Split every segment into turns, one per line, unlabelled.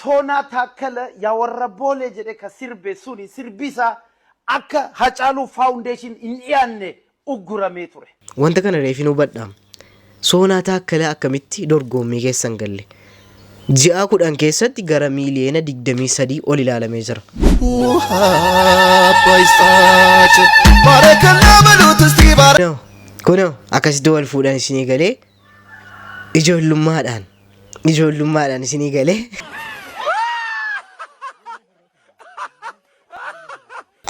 Soonaa Taakkala yaa warra Boolee jedhee ka sirbe suni sirbi isaa akka Hacaaluu Foundation hin dhiyaanne ugguramee ture. Wanta kana reefin
hubadha. Soonaa Taakkalaa akkamitti dorgoommii keessa hin galle? Ji'aa 10 keessatti gara miiliyoona 23 ol ilaalamee jira. Kunoo kunoo akkasitti wal fuudhan isinii galee. Ijoollummaadhaan ijoollummaadhaan isinii galee.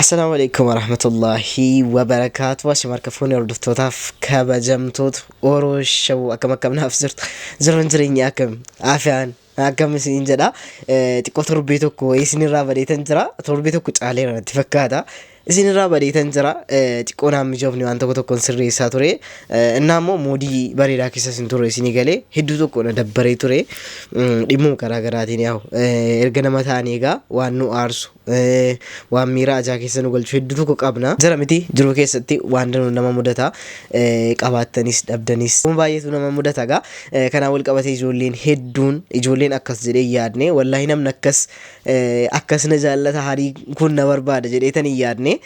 Assalaamu alaikum warahmatullahi wabarakaatu Asham harka fuunee hordoftootaaf kabajamtoota Oro Shawuu akkam akkam naaf jirtu jiruun jireenya akkam afiyaan Akkami siin jedha xiqqoo torbee tokko wayii isinirraa badeetan jira torbee tokko caaleera natti fakkaata isinirraa badeetan jira xiqqoo naan mijoofne waan tokko tokkoon sirreessaa ture innaa immoo moodii bareedaa keessa isin ture isinii galee hedduu tokko na dabbaree ture dhimmuu garaa garaatiin yaa'u erga nama ta'anii egaa waan nu aarsu Waan miira ajaa keessa nu galchu hedduu tokko qabna. Jira miti jiruu keessatti waan danuu nama mudata. Qabaattanis dhabdanis waan baay'eetu nama mudata gaa. Kanaan wal qabatee ijoolleen hedduun ijoolleen akkas jedhee hin yaadne. Wallaahi namni akkas akkas na jaallata harii kun na barbaada jedhee tan hin yaadne.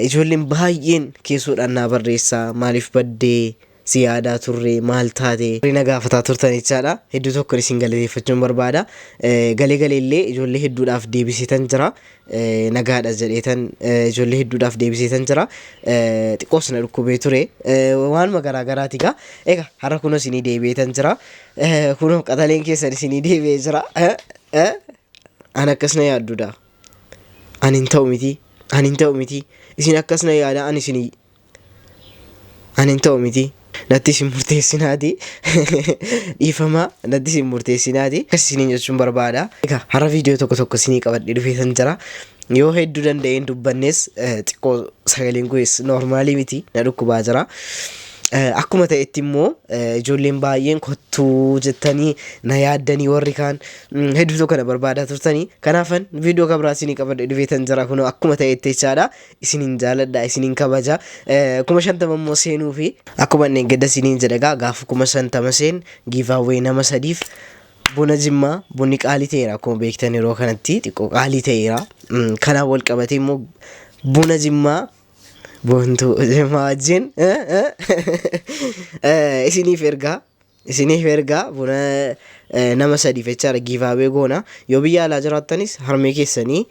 Ijoolleen baay'een keessoodhaan naa barreessa maaliif baddee. si yaadaa turre maal taate? Warri na gaafataa turtan jechaadha. Hedduu tokko isin galateeffachuun barbaada. Galee galee illee ijoollee hedduudhaaf deebiseetan jira. Nagaadha jedheetan ijoollee hedduudhaaf deebiseetan jira. Xiqqoos na dhukkubee ture. Waanuma garaa garaati gaa. Egaa har'a kunoo isinii deebi'eetan jira. Kunoo qaxaleen keessan isinii deebi'ee jira. An akkas na yaadduudha. An hin ta'u miti. An hin ta'u miti. Isin akkas na yaada an isinii Ani hin ta'u miti. Natti isin murteessinaati. Dhiifama natti isin murteessinaati. Akkas isiniin jechuun barbaada. Egaa har'a viidiyoo tokko tokko isinii qabadhee dhufeetan jira. Yoo hedduu danda'een dubbannes eh, xiqqoo sagaleen kunis noormaalii miti na dhukkubaa jira. Eh, Akkuma ta'etti immoo eh, ijoolleen baay'een kottuu jettanii na yaaddanii warri kaan mm, hedduutu kana barbaadaa turtanii. Kanaafan viidiyoo kabraa isinii qabadhee dhufeetan jira kunoo akkuma ta'etti jechaadha. isinin jaaladha isinin kabaja kuma shantama immoo seenuufi akkuma inni gadda isiniin jedha egaa gaafa kuma shantama seen giivaawwee nama sadiif buna jimmaa bunni qaalii ta'eera akkuma beektan yeroo kanatti xiqqoo qaalii ta'eera Mm, kanaan wal qabatee immoo buna jimmaa boontuu jimmaa wajjin eh, eh, eh, isiniif ergaa Isiniif ergaa buna nama sadiif jechaadha giivaawee goona. Yoo biyya alaa jiraattanis harmee keessanii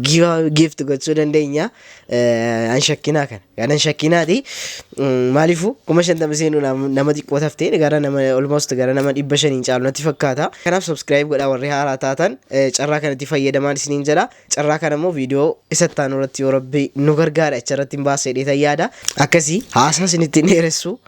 giivaawee giifti gochuu dandeenya. An shakkinaa kana. Kan an shakkinaati. Maaliifuu kuma shantama seenuu nama xiqqoo taftee gara nama almost gara nama dhibba shaniin caalu natti fakkaata. Kanaaf subscribe godhaa warri haaraa taatan carraa kanatti fayyadamaan isiniin jedha. Carraa kana immoo viidiyoo isa itti aanu irratti yoo rabbi nu gargaara achi irratti hin baasee dheetan yaada. Akkasii haasaa isinitti hin dheeressu.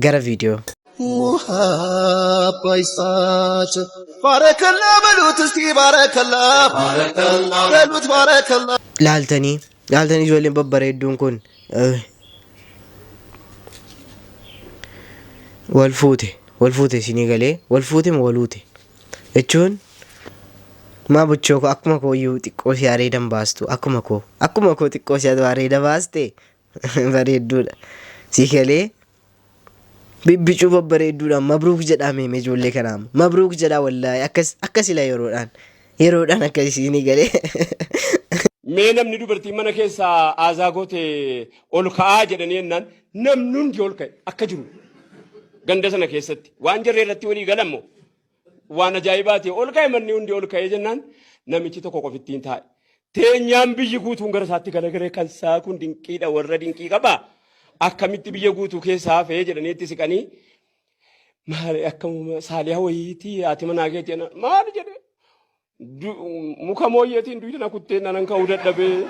Gara viidiyoo. Muhabba isaati. Baarakallaa baluut istii baarakallaa. Baarakallaa. Baluut baarakallaa. Laaltanii laaltanii ijoolleen babbareedduun kun eh, wal fuute wal fuute isinii galee wal fuute moo wal uute jechuun maa bochoo koo akkuma koo iyyuu xiqqoo si areedan baastu akkuma koo akkuma koo xiqqoo si areeda baaste bareedduudha si galee bibbicuu babbareedduudha mabruuk jedhaa meeme ijoollee kanaa mabruuk jedhaa wallaahi akkas akkas ila yeroodhaan yeroodhaan akkas isiinii galee
Mee namni dubartiin mana keessaa aazaa goote ol ka'aa jedhanii jennaan namni hundi ol ka'e akka jiru ganda sana keessatti waan jarri irratti walii galan moo Waan ajaa'ibaati ol ka'e manni hundi ol ka'ee jennaan namichi tokko qofittiin taa'e. Teenyaan biyyi guutuun gara isaatti galagalee kan isaa kun dinqiidha warra dinqii qaba. Akkamitti biyya guutuu keessa hafee jedhanii itti siqanii maali akkam saaliyaa wayiitii haati manaa keetii maali jedhee Muka mooyyeetiin duyda na kuttee nanan ka'uu dadhabee.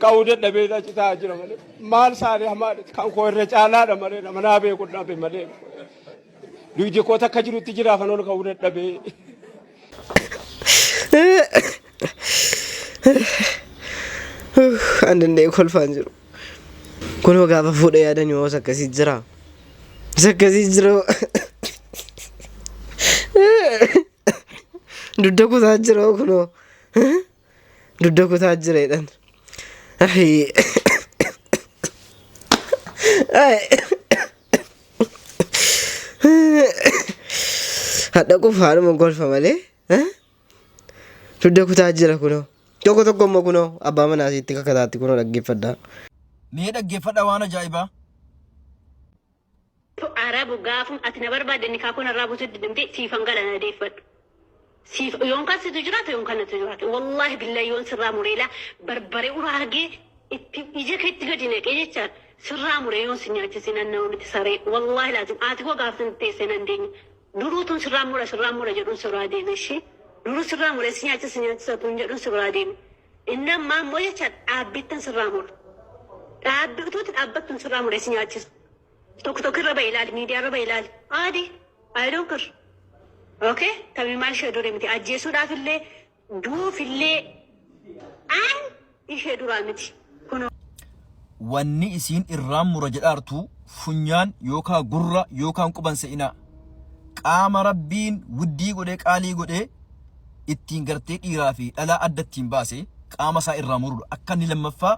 Ka'uu dadhabee achi taa'aa jira malee. Maal saanii hamaa kan koo irra caalaadha malee nama naa beeku dhabe malee. Duydi koo takka jirutti jira afan ol ka'uu dadhabee.
An danda'e kolfaan jiru. Kunoo gaafa fuudha yaadanii hoos akkasii jira. Isa akkasii jira. Dudda kutaa jira kunoo. Dudda kutaa jira jedhan. Ahii. Hadha qofa haadhuma golfa malee. Dugda kutaa jira kunoo. Tokko tokko immoo kunoo abbaa manaa isiitti kakataatti kunoo dhaggeeffadha. Mee
dhaggeeffadha waan ajaa'ibaa.
To arabu gaafum ati na barbaadde nikaa koo narraa buutu didimte siifan gala na deeffadhu. Siif yoon kan situ jiraate yoon kan natu jiraate. Wallaahi billahi yoon sirraa mureela barbare uraa argee itti ija keetti gadi naqee jecha sirraa muree yoon si nyaachise nan nama miti saree. Wallaahi laazim haati koo gaafsan teesse nan deenya. Duruu utuun sirraa mura sirraa mura jedhuun si biraa deeme ishi Duruu sirraa mure si nyaachisa si nyaachisa utuun jedhuun si biraa deeme Inni ammaa immoo jecha dhaabbiittan sirraa mura Dhaabbi utuutti dhaabbattuun sirraa mure si nyaachisa Tok tok irra ba'i ilaali miidiyaa irra ba'i ilaali Aadi I don't care Okay tamii maal ishee durii miti ajjeesuudhaaf illee Duufillee an ishee duraa miti. Kunoo. Wanni
isiin irraan mura jedhaartu funyaan yookaa gurra yookaan quba hin se'inaa. Qaama Rabbiin wuddii godhee qaalii godhee ittiin gartee dhiiraa fi dhalaa adda ittiin baase qaama isaa irraa murudha. Akka inni lammaffaa.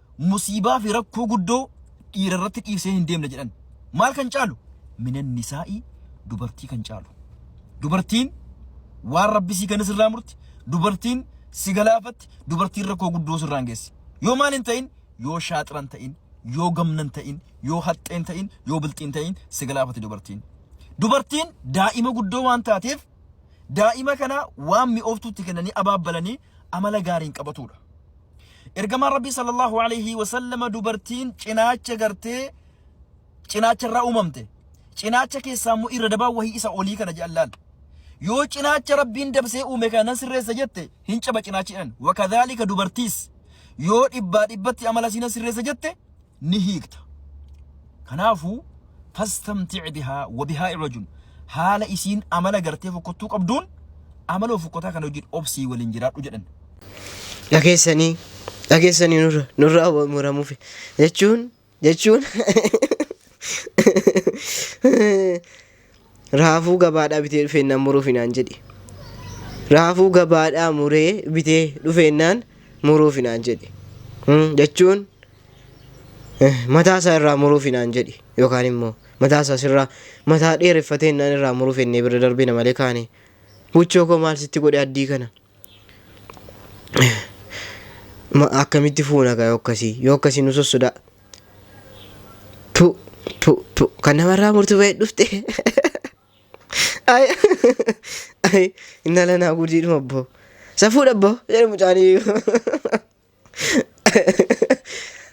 musiibaa fi rakkoo guddoo dhiira irratti dhiisee hin deemne jedhan. Maal kan caalu? Minan nisaa'ii dubartii kan caalu. Dubartiin waan rabbi sii kennis irraa murti. Dubartiin si galaafatti. Dubartiin rakkoo guddoo sirraan geessi. Yoo maal hin ta'in, yoo shaaxiran ta'in, yoo gamnan ta'in, yoo haxxeen ta'in, yoo bilxiin ta'in si galaafatti dubartiin. Dubartiin daa'ima guddoo waan taateef Daa'ima kana waan mi'ooftuu itti kennanii abaabbalanii amala gaariin qabatuudha. Ergamaan Rabbii sallallahu alaihi wasallama dubartiin cinaacha gartee cinaacha irraa uumamte. Cinaacha keessaa immoo irra dabaa wahii isa olii kana jedhan laal. Yoo cinaacha Rabbiin dabsee uume kana nan sirreessa jette hin caba cinaachi jedhan. Wakadhaalika dubartiis yoo dhibbaa dhibbatti amala isii nan sirreessa jette ni hiikta kanaafu fastamtic bihaa wa bihaa irajun haala isiin amala gartee fokkottuu qabduun amaloo fokkotaa kana wajjin obsii waliin jiraadhu jedhan dhageessanii
dhageessanii nurra nurraa wa- muramuufi jechuun jechuun Raafuu gabaadhaa bitee dhufeennaan muruufi naan jedhe. Raafuu gabaadhaa muree bitee dhufeennaan muruufi naan jedhe. Hmm, Jechuun eh, mataa isaa irraa muruufi naan jedhe yookaan immoo mataa isaa sirraa mataa dheereffateennaan irraa muruuf ennee bira darbina malee kaane. Buchoo koo maal sitti godhe addii kana? Ma- akkamitti fuuna gaa yoo akkasii yoo akkasii nu sossodaa pu pu pu kan namarraa murtu ba'e dhufte ay ay inna lanaa gudiidhuma abboo safuudha abboo jedha mucaanii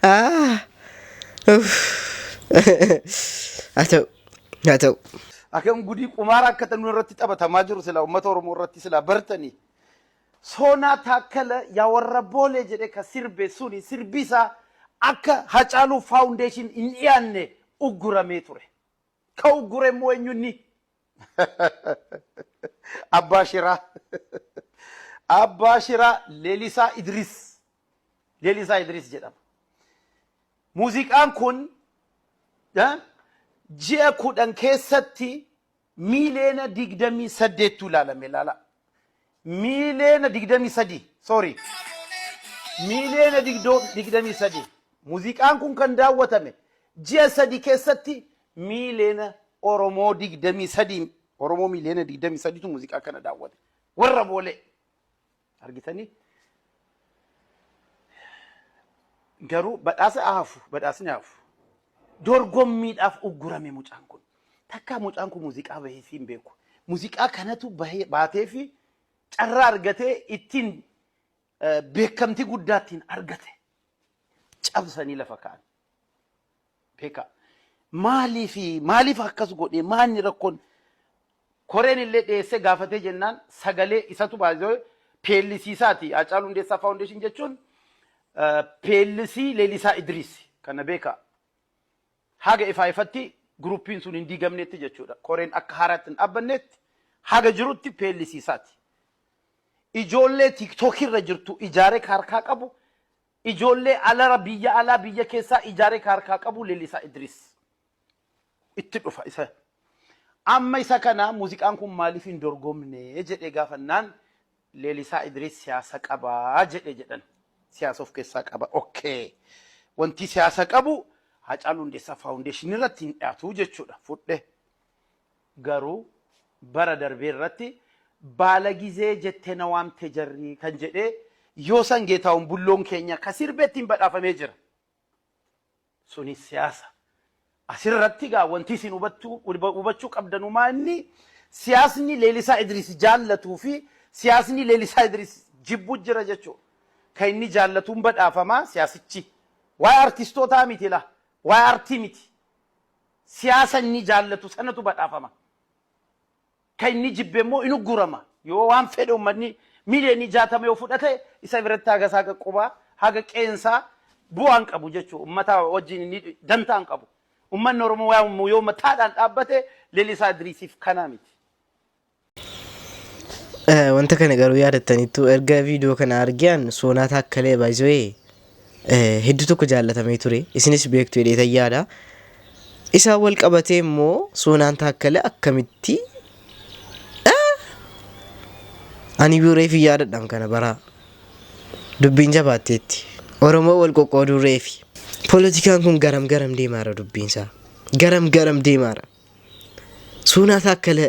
Ah, uff. Haa ta'u, haa ta'u. Akkam
gudii qumaara akka ta'e irratti taphatamaa jiru sila uummata Oromoo irratti sila bartanii. Soonaa taakkala yaa warra boolee jedhee ka sirbe suni sirbi isaa akka Hacaaluu Faawundeeshin hin dhiyaanne ugguramee ture. Ka uggure immoo eenyunni Abbaa Shiraa. Abbaa Shiraa Lelisaa Idris. Lelisaa Idris jedhama. Muuziqaan kun eh, ji'a kudhan keessatti miiliyoona digdamii saddeettu ilaalame ilaala. miiliyoona 23 sorry miiliyoona 23 muziqaan kun kan daawwatame ji'a sadi keessatti miiliyoona Oromoo 23 Oromoo miiliyoona 23tu muziqaa kana daawwate warra boolee argitanii garuu badhaasa hafu badhaasni hafu dorgommiidhaaf uggurame mucaan kun Takkaa mucaan kun muuziqaa baheefii hin beeku. Muuziqaa kanatu bahee- baateefi carraa argatee ittiin eh, beekamtii guddaa ittiin argate. Cabsanii lafa ka'an. Beekaa. Maaliif maaliif akkas godhee maanni rakkoon koreen illee dhiyeessee gaafatee jennaan sagalee isatu baay'ee peellisiisaati. Haacaaluu Hundeessaa Faawundeeshin jechuun eh, peellisii Leelisaa Idiriis kana beekaa. haga ifaa ifatti groupiin sun hin diigamneetti jechuudha. Koreen akka haaraatti hin dhaabbanneetti haga jirutti plc isaati. Ijoollee tiktok irra jirtu ijaaree ka harkaa qabu, ijoollee alara biyya alaa biyya keessaa ijaaree ka harkaa qabu Lelisaa Idris. Itti dhufa isa. Amma isa kana muuziqaan kun maaliif hin dorgomne jedhee gaafannaan Lelisaa Idris siyaasa qaba jedhe jedhan. Siyaasa of keessaa qaba ok. Wantii siyaasa qabu Haacaaluu Hundeessaa Foundation irratti hin dhiyaatu jechuudha. Fudhe. Garuu bara darbee irratti baala gizee jette na waamte jarri kan jedhee yoo san Geetaahun Bulloon keenya ka sirbe ittiin badhaafamee jira. Sunis siyaasa. Asirratti egaa wanti isin hubachuu qabdanu maa inni siyaasni Leelisaa Idiriis jaallatuu fi siyaasni Leelisaa Idiriis jibbu jira jechuudha. Kan inni jaallatuun badhaafama siyaasichi. Waa'ee artistootaa miti laa. Waa'ee artii miti. Siyaasa inni jaallatu sanatu badhaafama. kan inni jibbe immoo in uggurama. Yoo waan fedhe uummanni miiliyoonii jaatama yoo fudhate isa biratti haga isaa haga qubaa haga qeensaa bu'aan qabu jechuudha. Uummataa wajjin inni dantaan qabu. Uummanni Oromoo waan yoo mataadhaan dhaabbate Lelisaa Idriisiif kanaa miti.
Wanta kana garuu yaadattaniittu erga viidiyoo kana argian soonaa taakkalee baay'isee hedduu tokko jaallatamee ture. Isinis beektu jedheetan yaada. Isaan wal qabatee immoo Soonaan Taakkala akkamitti ani iyyuu reefi yaadadhaan kana baraa dubbiin jabaatteetti. Oromoo wal qoqqooduu reefi. Poolitikaan kun garam garam deemaara dubbiinsaa. Garam garam deemaara. Soonaa Taakkala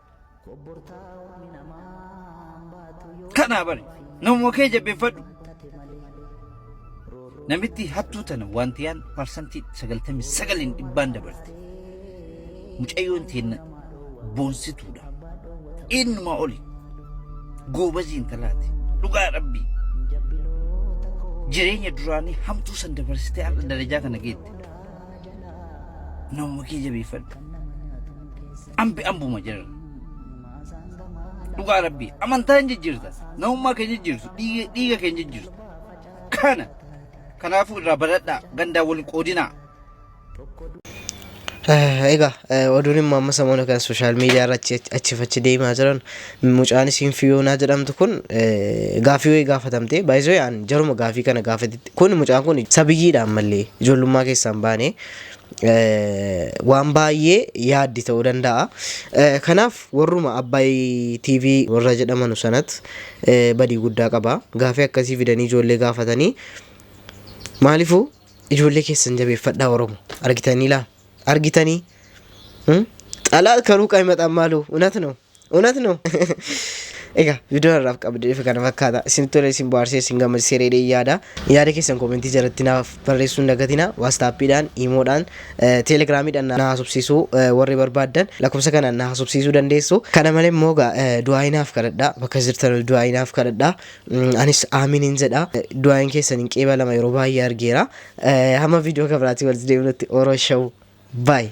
Kanaa bari namuma kee jabbeeffadhu. Namitti hattuu tana waantiyaan parsantii sagaltamii sagaliin dhibbaan dabarte. Mucayyoon teenna boonsituudha. Eenyumaa oli goobazii intalaati. Dhugaa rabbii. Jireenya duraanii hamtuu san dabarsitee har'a darajaa kana geette. Namuma kee jabeeffadhu. Ambi ambuma jedhan. Dhugaa rabbii amantaa hin jijjiirta. Namummaa kee jijjiirtu dhiiga dhiiga kee hin jijjiirtu. Kana kanaafuu irraa baradhaa gandaa wal qoodinaa.
Egaa oduun immoo amma samoona kan sooshaal miidiyaa irra achi achi fi achi deemaa jiran mucaan isiin fiyoonaa jedhamtu kun gaafii wayii gaafatamte baay'isoo yaan jaruma gaafii kana gaafatetti kun mucaan kun sabiyyiidha ammallee ijoollummaa keessaan baane waan baay'ee yaaddi ta'uu danda'a. Kanaaf warruma Abbaay TV warra jedhamanu sanat badii guddaa qaba. Gaafii akkasii fidanii ijoollee gaafatanii maaliifuu ijoollee keessan jabeeffadhaa Oromo argitanii laa argitanii xalaat kanuu qaymaxaan maaloo unat noo እውነት ነው ኤጋ ቪዲዮ irraaf qabde ifa kana fakkaata isin tole isin bohaarsee isin gammachiisee reedee yaada yaada keessan koomentii jalatti naaf barreessuun dagatina waastaappiidhaan iimoodhaan teelegraamiidhaan na haasofsiisuu warri barbaaddan lakkoofsa kanaan na haasofsiisuu dandeessu kana malee immoo egaa du'aayinaaf kadhadha bakka jirtan du'aayinaaf kadhadha anis aaminiin jedha du'aayin keessan hin qeebalama yeroo baay'ee argeera hamma viidiyoo kabiraatii walitti deebinutti oroo shawu baay'ee